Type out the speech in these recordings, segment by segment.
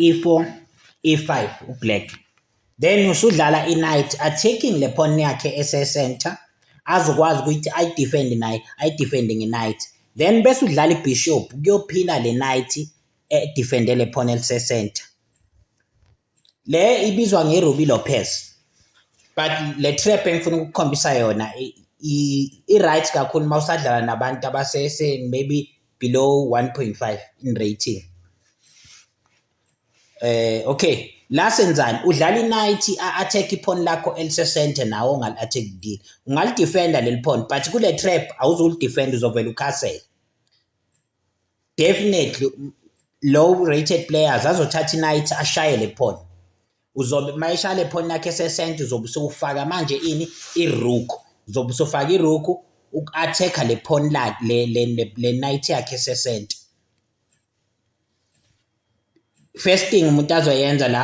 e4 e5 ublack then usudlala i-knight attacking le pawn yakhe ese-center azokwazi ukuthi ayidefende naye ayidefende nge-knight then bese udlala i-bishop kuyophila le knight edefende le pawn elise-center le ibizwa nge-Ruby Lopez but le trap engifuna ukukhombisa yona i-right kakhulu uma usadlala nabantu abasese maybe below 1.5 in rating eh okay la senzani udlala i-night a-attack iphon lakho elisesente nawe ongali-attack kile ungalidefenda leli phon but kule trap awuzulidefenda uzovela ukhasele definitely low rated players azothatha i-night ashayele phon uzobe mayishale phone yakhe sesent uzobe usufaka manje ini irook uzobe usufaka irook uku-attack-a le phone lakhe le le le night yakhe sesent first thing umuntu azoyenza la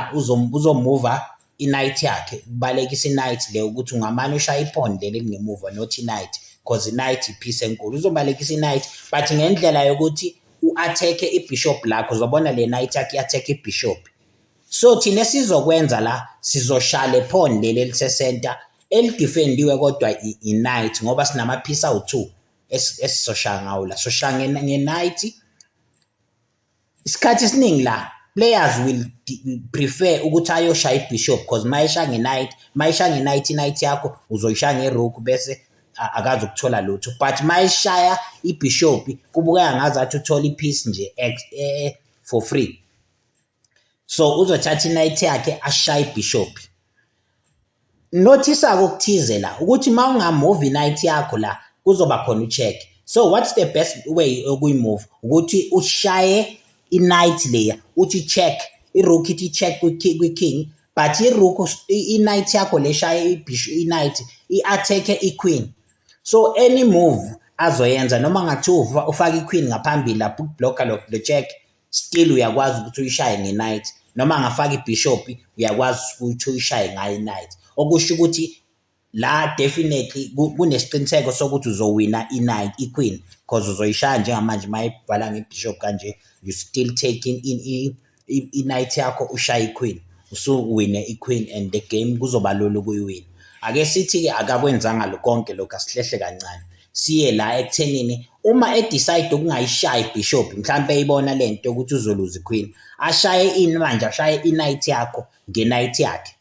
uzomuva i-night yakhe kubalekisa i-night le ukuthi ungamane ushaya iphone leli elingemuva not i-night because i-night i-peace enkulu uzobalekisa i-night but ngendlela yokuthi u-attack-e ibishop lakho uzobona le night yakhe i-attack ibishop So thina esizokwenza la sizoshaya le pawn leli elisecenter elidefendiwe kodwa i-knight ngoba sinamaphisi awu-two esizoshaya ngawo la soshaya nge-knight isikhathi esiningi la players will prefer ukuthi ayoshaya i-bishop because uma eshaya nge-knight uma eshaya nge-knight i-knight yakho uzoyishaya nge-rook bese akazi ukuthola lutho but uma eshaya ibhishobhi kubukeka ngazathi uthola i-piece nje e, e, for free so uzothatha inight yakhe ashaye ibishop nothisa kokuthize la ukuthi mawungamove inight yakho la kuzoba khona ucheck so what's the best way okuyimove ukuthi ushaye inight leya uthi check irook ithi check kwi-king but irook inight yakho leshaye ibhishu inight i-attack iqueen so any move azoyenza noma ngathi ufaka iqueen ngaphambili lapho ukublocker lo check Still uyakwazi ukuthi uyishaye nge night noma angafaka ibhishopi uyakwazi ukuthi uyishaye ngayo inight okusho ukuthi la definitely kunesiqiniseko sokuthi uzowina inight iqueen because uzoyishaya njengamanje uma ibhala ngebishop kanje you still taking in inight yakho ushaye iqueen usuwine iqueen and the game kuzoba lula ukuyiwina ake sithi-ke akakwenzanga konke lokhu asihlehle kancane siye la ekuthenini uma edecide ukungayishayi ibishop mhlawumpe eyibona le nto yokuthi uzoluza iqueen ashaye ini manje ashaye inight yakho ngenight yakhe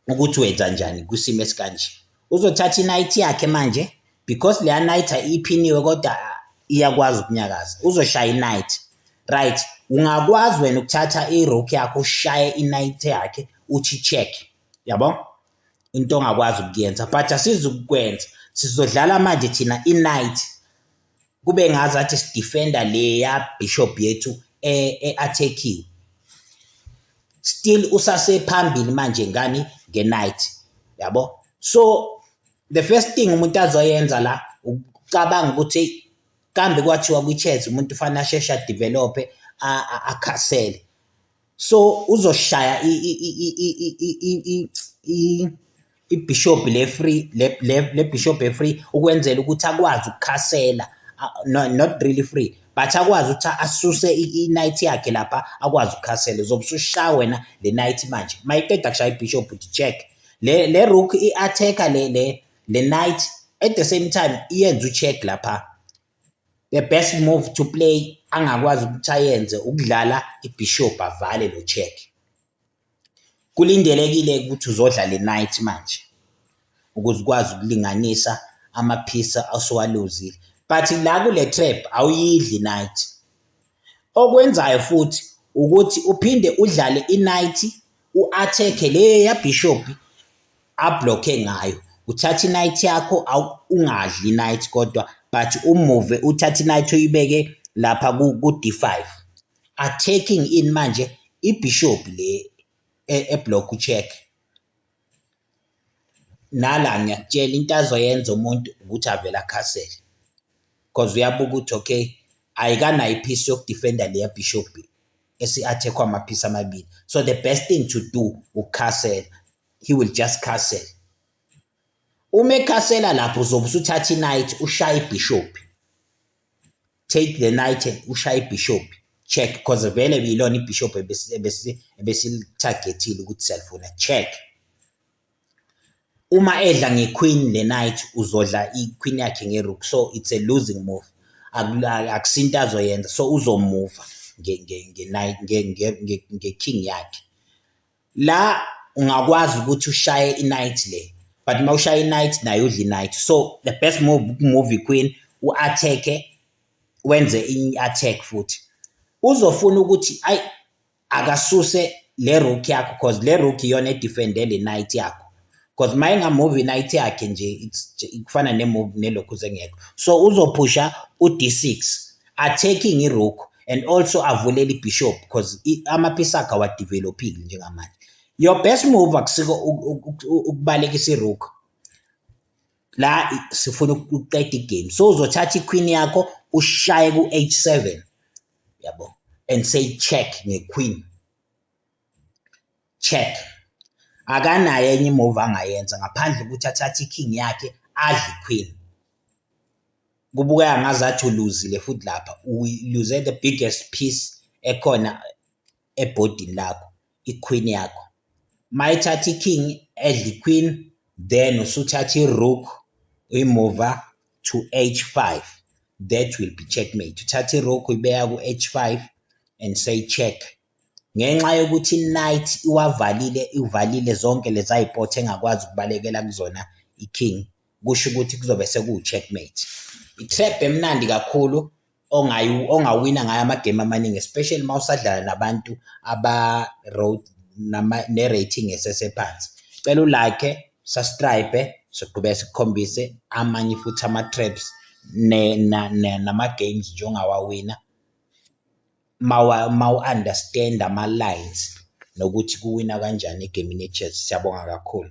ukuthi wenza njani kwisimo esikanje uzothatha inight yakhe manje because leya night iphiniwe kodwa iyakwazi ukunyakaza uzoshaya inight right ungakwazi wena ukuthatha irock yakho ushaye inight yakhe uthi check yabo into ongakwazi ukuyenza but asizukukwenza sizodlala manje thina i-night kube ngazathi sidefenda leya bishop yethu e-attekiwe e still usasephambili manje ngani nge-night yabo so the first thing umuntu azoyenza la ucabanga ukuthi kambe kwathiwa kwi-chess umuntu ufanele asheshe adevelophe akhasele so uzoshaya ibishop le free le bishop e free ukwenzela ukuthi akwazi ukukhasela not really free but akwazi ukuthi asuse i-night yakhe lapha akwazi ukukhasela uzobe usushaya wena le night manje mayiqeda kushaya ibishop uthi check le le rook i-attacker le le le night at the same time iyenza ucheck lapha The best move to play angakwazi ukuthi ayenze ukudlala iBishop avale lo check. Kulindelekile ukuthi uzodla le night manje ukuze ukwazi ukulinganisa amaphisa asuwaluzile. But la kule trap awuyidli night. Okwenzayo futhi ukuthi uphinde udlale i-night u-athekhe leya bishop ablockhe ngayo uthatha inight yakho ungadli inight kodwa but umuve uthatha inight uyibeke lapha ku-d5 attacking in manje ibishop le e-, eblock ucheck nala ngiyakutshela into azoyenza umuntu ukuthi avele akhasele because uyabuka ukuthi okay ayikanayo iphisi yokudefenda leya bishop esi-attack-wa amaphisi amabili so the best thing to do ukukhasela he will just castle uma ekhasela lapho uzobe usuthatha i-night ushaye ibhishophi take the night ushaye ibhishophi check because vele yilona ibhishophi ebesilithagethile ukuthi siyalifuna check Uma edla ngeQueen neKnight uzodla iQueen yakhe ngeRook so it's a losing move akusinto azoyenza so uzomuva ngeKing yakhe. La ungakwazi ukuthi ushaye iKnight le but uma ushaya iKnight naye udla iKnight so the best move ukumuva iQueen u-attack-e wenze i-attack futhi. Uzofuna ukuthi ayi akasuse le rook yakho cause le rook iyona edefende le knight yakho cause uma engamove i-knight yakhe nje kufana ne-move nelokhu zengekho so uzophusha u-d6 attacking i-rook and also avulele i-bishop cause amaphisi akhe awadevelophile njengamanje your best move akusiko ukubalekisa i-rook la sifuna ukuqeda igame so uzothatha iqueen yakho ushaye ku-h7 yabo and say check ngequeen check akanayo enye imove angayenza ngaphandle ukuthi athathe iking yakhe adle iqueen kubukeka ngazathi uluzile futhi lapha uluze the biggest piece ekhona ebhodini lakho iqueen yakho mayithatha iking edla iqueen then usuthatha irook uyimuva to h5 that will be checkmate uthatha irook uyibeka ku-h5 and say check ngenxa yokuthi night iwavalile ivalile zonke leza yipothe engakwazi ukubalekela kuzona iking kusho ukuthi kuzobe sekuwu-checkmate i-trap emnandi kakhulu ongawina ngayo amagemu amaningi especially uma usadlala nabantu aba-road ne-rating esesephansi cela ulakhe subscribe soqhubeka sikukhombise amanye futhi ama-traps nama-games nje ongawawina mawu-understand ama-lines nokuthi kuwina kanjani egemini ye-chess siyabonga kakhulu